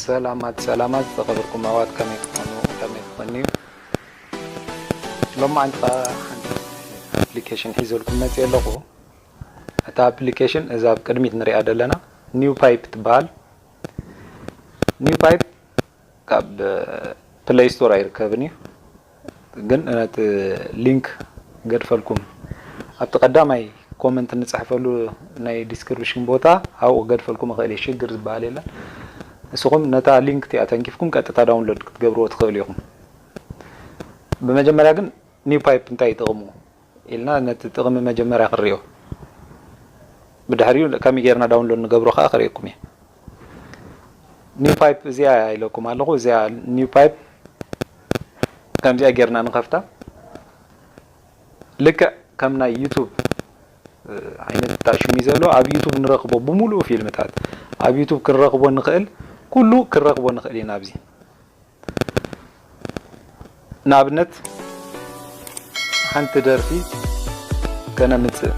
ሰላማት ሰላማት ዝኸበርኩም ኣሕዋት ከመይ ትኾኑ ከመይ ትኾንዩ ሎማዓንቲ ከዓ ሓንቲ ኣፕሊኬሽን ሒዘልኩም መፅእ ኣለኹ እታ ኣፕሊኬሽን እዛ ኣብ ቅድሚት ንሪኣ ዘለና ኒው ፓይፕ ትበሃል ኒው ፓይፕ ካብ ፕለይ ስቶር ኣይርከብን እዩ ግን ነቲ ሊንክ ገድፈልኩም ኣብቲ ቀዳማይ ኮመንት ንጽሕፈሉ ናይ ዲስክሪፕሽን ቦታ ኣብኡ ገድፈልኩም እኽእል እየ ሽግር ዝበሃል የለን ንስኹም ነታ ሊንክ እቲኣ ተንኪፍኩም ቀጥታ ዳውንሎድ ክትገብርዎ ትኽእሉ ኢኹም ብመጀመርያ ግን ኒው ፓይፕ እንታይ ይጥቕሙ ኢልና ነቲ ጥቕሚ መጀመርያ ክንሪኦ ብድሕሪኡ ከመይ ጌርና ዳውንሎድ ንገብሮ ከኣ ከርእየኩም እየ። ኒው ፓይፕ እዚኣ እያ ኢለኩም ኣለኹ እዚኣ ኒው ፓይፕ ከምዚኣ ጌርና ንኸፍታ ልክዕ ከም ናይ ዩቱብ ዓይነት ጣሽሚ ዘሎ ኣብ ዩቱብ ንረኽቦ ብምሉኡ ፊልምታት ኣብ ዩቱብ ክንረኽቦ ንኽእል ኩሉ ክንረኽቦ ንኽእል ኢና ኣብዚ ንኣብነት ሓንቲ ደርፊ ከነምፅእ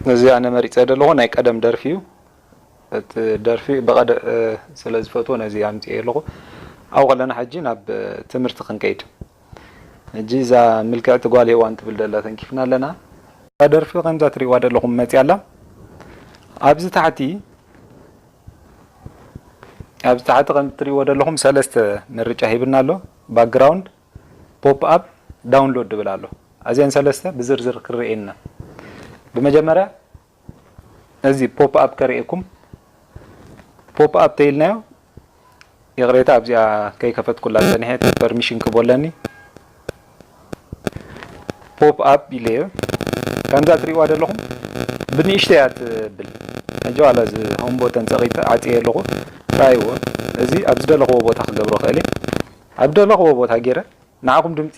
ነዚ ኣነ መሪፀ ዘለኹ ናይ ቀደም ደርፊ እዩ። እቲ ደርፊ ብቐድዕ ስለ ዝፈትዎ ነዚ ኣምጺኤዮ ኣለኹ። ኣብኡ ከለና ሕጂ ናብ ትምህርቲ ክንከይድ። ሕጂ እዛ ምልክዕቲ ጓል ሄዋን ትብል ደላ ተንኪፍና ኣለና። እዛ ደርፊ ከምዛ ትሪእዋ ደለኹም መጺኣ ኣላ። ኣብዚ ታሕቲ ኣብዚ ታሕቲ ከምዚ ትሪእዎ ደለኹም ሰለስተ ምርጫ ሂብና ኣሎ። ባክግራውንድ፣ ፖፕ ኣፕ፣ ዳውንሎድ ድብል ኣሎ። ኣዚኤን ሰለስተ ብዝርዝር ክርኤየን ኢና። ብመጀመርያ ነዚ ፖፕ ኣፕ ከርእየኩም ፖፕ ኣፕ ተይልናዮ ይቕሬታ ኣብዚኣ ከይከፈትኩላ ጸኒሐ እቲ ፐርሚሽን ክቦ ኣለኒ ፖፕ ኣፕ ኢለዮ ከምዛ ትሪእዋ ዘለኹም ብንእሽተያ ትብል ሕጂ ዋላ እዚ ሆም ቦተን ጸቒጠ ዓጽየ ኣለኹ ራይዎ እዚ ኣብ ዝደለኽዎ ቦታ ክገብሮ ክእል እየ ኣብ ደለኽዎ ቦታ ገይረ ንዓኹም ድምፂ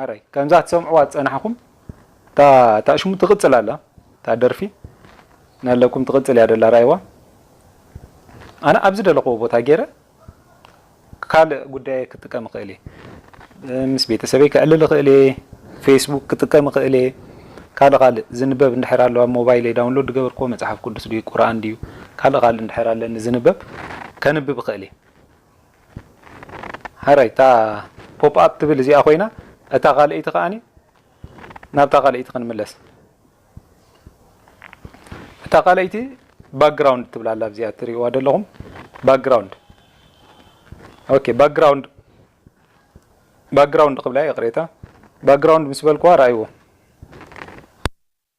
ኣረይ ከምዛ ትሰምዕዋ ዝጸናሕኩም እታ ታሽሙ ትቅጽል ኣላ እታ ደርፊ ናለኩም ትቅጽል እያ ደላ ራኣይዋ ኣነ ኣብ ዝደለክዎ ቦታ ጌረ ካልእ ጉዳየይ ክጥቀም እክእል እየ ምስ ቤተሰበይ ከዕልል እክእል እየ ፌስቡክ ክጥቀም እክእል እየ ካልእ ካልእ ዝንበብ እንድሕር ኣሎ ኣብ ሞባይለይ ዳውንሎድ ዝገበርክዎ መጽሓፍ ቅዱስ ድዩ ቁርኣን ድዩ ካልእ ካልእ እንድሕር ኣለኒ ዝንበብ ከንብብ እክእል እየ ሐራይ እታ ፖፕ ኣፕ ትብል እዚኣ ኮይና እታ ካልኣይቲ ከኣ ናብታ ካልኣይቲ ክንምለስ እታ ካልኣይቲ ባክግራውንድ ትብላ ኣላ ኣብዚኣ ትሪእዋ ዘለኹም ባክግራውንድ ኦኬ ባክግራውንድ ባክግራውንድ ክብላ ይቕሬታ ባክግራውንድ ምስ በልኩዋ ርኣይዎ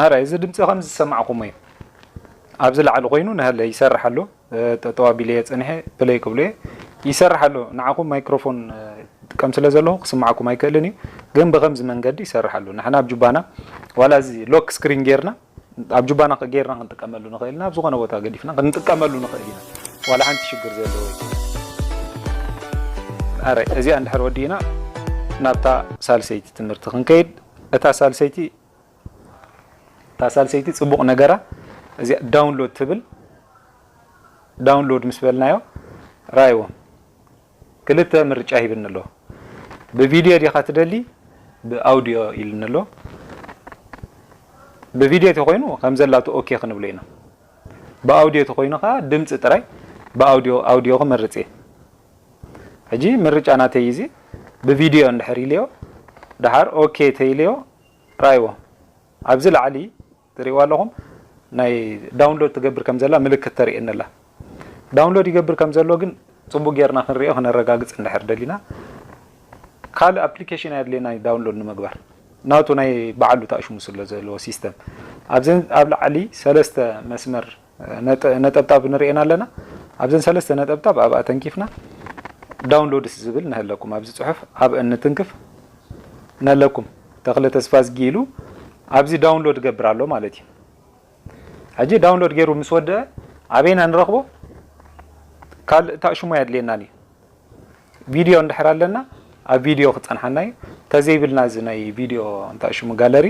ኣረ እዚ ድምፂ ከም ዝሰማዕኹሞ እዩ ኣብዚ ላዕሊ ኮይኑ ናሃለ ይሰርሕ ኣሎ ጠጠው ኣቢለ እየ ፀኒሐ ፕለይ ክብሎ እየ ይሰርሕ ኣሎ ንዓኹም ማይክሮፎን ጥቀም ስለ ዘለኹ ክስማዕኩም ኣይክእልን እዩ ግን ብከምዚ መንገዲ ይሰርሕ ኣሎ ንሕና ኣብ ጁባና ዋላ እዚ ሎክ ስክሪን ጌርና ኣብ ጁባና ጌርና ክንጥቀመሉ ንኽእል ኢና፣ ኣብ ዝኾነ ቦታ ገዲፍና ክንጥቀመሉ ንኽእል ኢና፣ ዋላ ሓንቲ ሽግር ዘለዎ ኣይኮነን። ኣረ እዚኣ እንድሕር ወዲእና ናብታ ሳልሰይቲ ትምህርቲ ክንከይድ፣ እታ ሳልሰይቲ እታ ሳልሰይቲ ጽቡቕ ነገራ እዚኣ ዳውንሎድ ትብል ዳውንሎድ ምስ በልናዮ ራይዎ ክልተ ምርጫ ሂብኒ ኣሎ ብቪድዮ ዲኻ ትደሊ ብኣውድዮ ኢልኒ ኣሎ ብቪድዮ ተኮይኑ ከምዘላቱ ኦኬ ክንብሎ ኢና ብኣውድዮ ተኮይኑ ከዓ ድምፂ ጥራይ ብኣውድዮ ኣውድዮ ክመርፅ እየ ሕጂ ምርጫ ናተይ እዚ ብቪድዮ እንድሕር ኢልዮ ደሓር ኦኬ ተይልዮ ራይዎ ኣብዚ ላዕሊ ትሪእዋ ኣለኹም ናይ ዳውንሎድ ትገብር ከም ዘላ ምልክት ተርእየኒ ኣላ ዳውንሎድ ይገብር ከም ዘሎ ግን ጽቡቅ ጌርና ክንሪኦ ክነረጋግጽ እንድሕር ደሊና ካልእ ኣፕሊኬሽን ኣየድልየና ዳውንሎድ ንምግባር ናቱ ናይ በዓሉ ተኣሽሙ ስለ ዘለዎ ሲስተም ኣብዚ ኣብ ላዕሊ ሰለስተ መስመር ነጠብጣብ ንርእየን ኣለና ኣብዘን ሰለስተ ነጠብጣብ ኣብኣ ተንኪፍና ዳውንሎድስ ዝብል ነህለኩም ኣብዚ ጽሑፍ ኣብ እንትንክፍ ነለኩም ተክለ ተስፋዝጊ ኢሉ ኣብዚ ዳውንሎድ ገብር ኣሎ ማለት እዩ ሕጂ ዳውንሎድ ገይሩ ምስ ወደአ ኣበይና ንረኽቦ ካልእ ታእሽሞ ኣየድልየናን እዩ ቪድዮ እንድሕር ኣለና ኣብ ቪድዮ ክጸንሓና እዩ ተዘይብልና እዚ ናይ ቪድዮ እንታይ ሽሙ ጋለሪ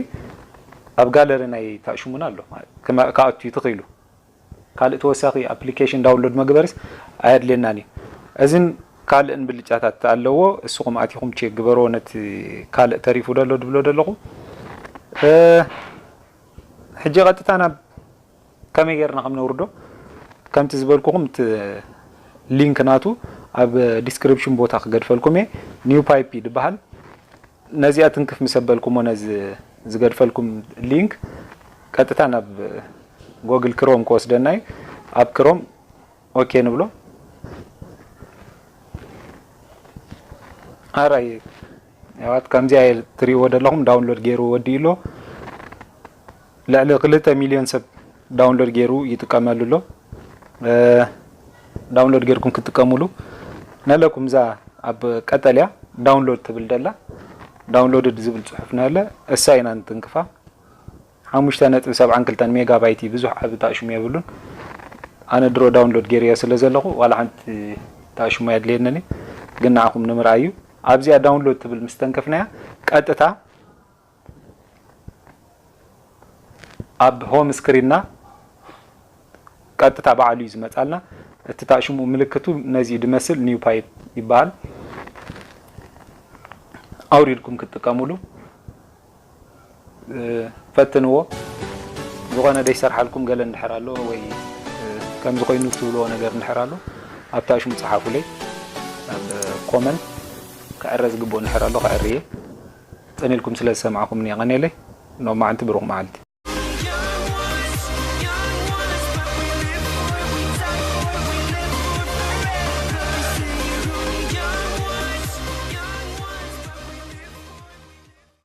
ኣብ ጋለሪ ናይ ታሽሙና ኣሎ ማለት ክኣቱ ትኽኢሉ ካልእ ተወሳኺ ኣፕሊኬሽን ዳውንሎድ መግበርስ ኣየድልየናን እዩ እዝን ካልእን ብልጫታት ኣለዎ እስኹም ኣቲኹም ቼክ ግበርዎ ነቲ ካልእ ተሪፉ ደሎ ድብሎ ደለኹ ሕጂ ቀጥታ ናብ ከመይ ጌርና ከም ነውርዶ ከምቲ ዝበልኩኹም እቲ ሊንክ ናቱ ኣብ ዲስክሪፕሽን ቦታ ክገድፈልኩም እየ ኒው ፓይፕ እዩ ድበሃል ነዚኣ ትንክፍ ምስ ኣበልኩሞ ነዚ ዝገድፈልኩም ሊንክ ቀጥታ ናብ ጎግል ክሮም ክወስደና እዩ ኣብ ክሮም ኦኬ ንብሎ ኣራይ ያዋት ከምዚኣ ትሪእዎ ደለኹም ዳውንሎድ ገይሩ ወዲኡ ኣሎ ልዕሊ ክልተ ሚልዮን ሰብ ዳውንሎድ ገይሩ ይጥቀመሉ ኣሎ። ዳውንሎድ ገይርኩም ክትጥቀሙሉ ነለኩም እዛ ኣብ ቀጠልያ ዳውንሎድ ትብል ደላ ዳውንሎድድ ዝብል ጽሑፍ ነለ እሳ ኢና ንትንክፋ ሓሙሽተ ነጥቢ ሰብዓን ክልተን ሜጋባይት እዩ ብዙሕ ዓቢ ታእሽሙ የብሉን ኣነ ድሮ ዳውንሎድ ገይርዮ ስለ ዘለኹ ዋላ ሓንቲ ታእሽሙ ኣየድልየንን ግን ንዓኹም ንምርኣዩ ኣብዚኣ ዳውንሎድ ትብል ምስ ተንከፍናያ ቀጥታ ኣብ ሆም ስክሪንና ቀጥታ ባዕሉ እዩ ዝመጻልና። እቲ ታሽሙ ምልክቱ ነዚ እዩ ድመስል NewPipe ይበሃል። ኣውሪድኩም ክትጥቀምሉ ፈትንዎ። ዝኾነ ዘይሰርሓልኩም ገለ እንድሕር ኣሎ ወይ ከምዚ ኮይኑ ትብልዎ ነገር እንድሕር ኣሎ ኣብ ታሽሙ ጸሓፉለይ ኣብ ኮመንት። ክዕረ ዝግብኦ እንድሕር ኣሎ ከዕሪ እየ። ጽን ኢልኩም ስለ ዝሰማዕኩምኒ የቀኔለይ ሎማዕንቲ ብሩክ መዓልቲ።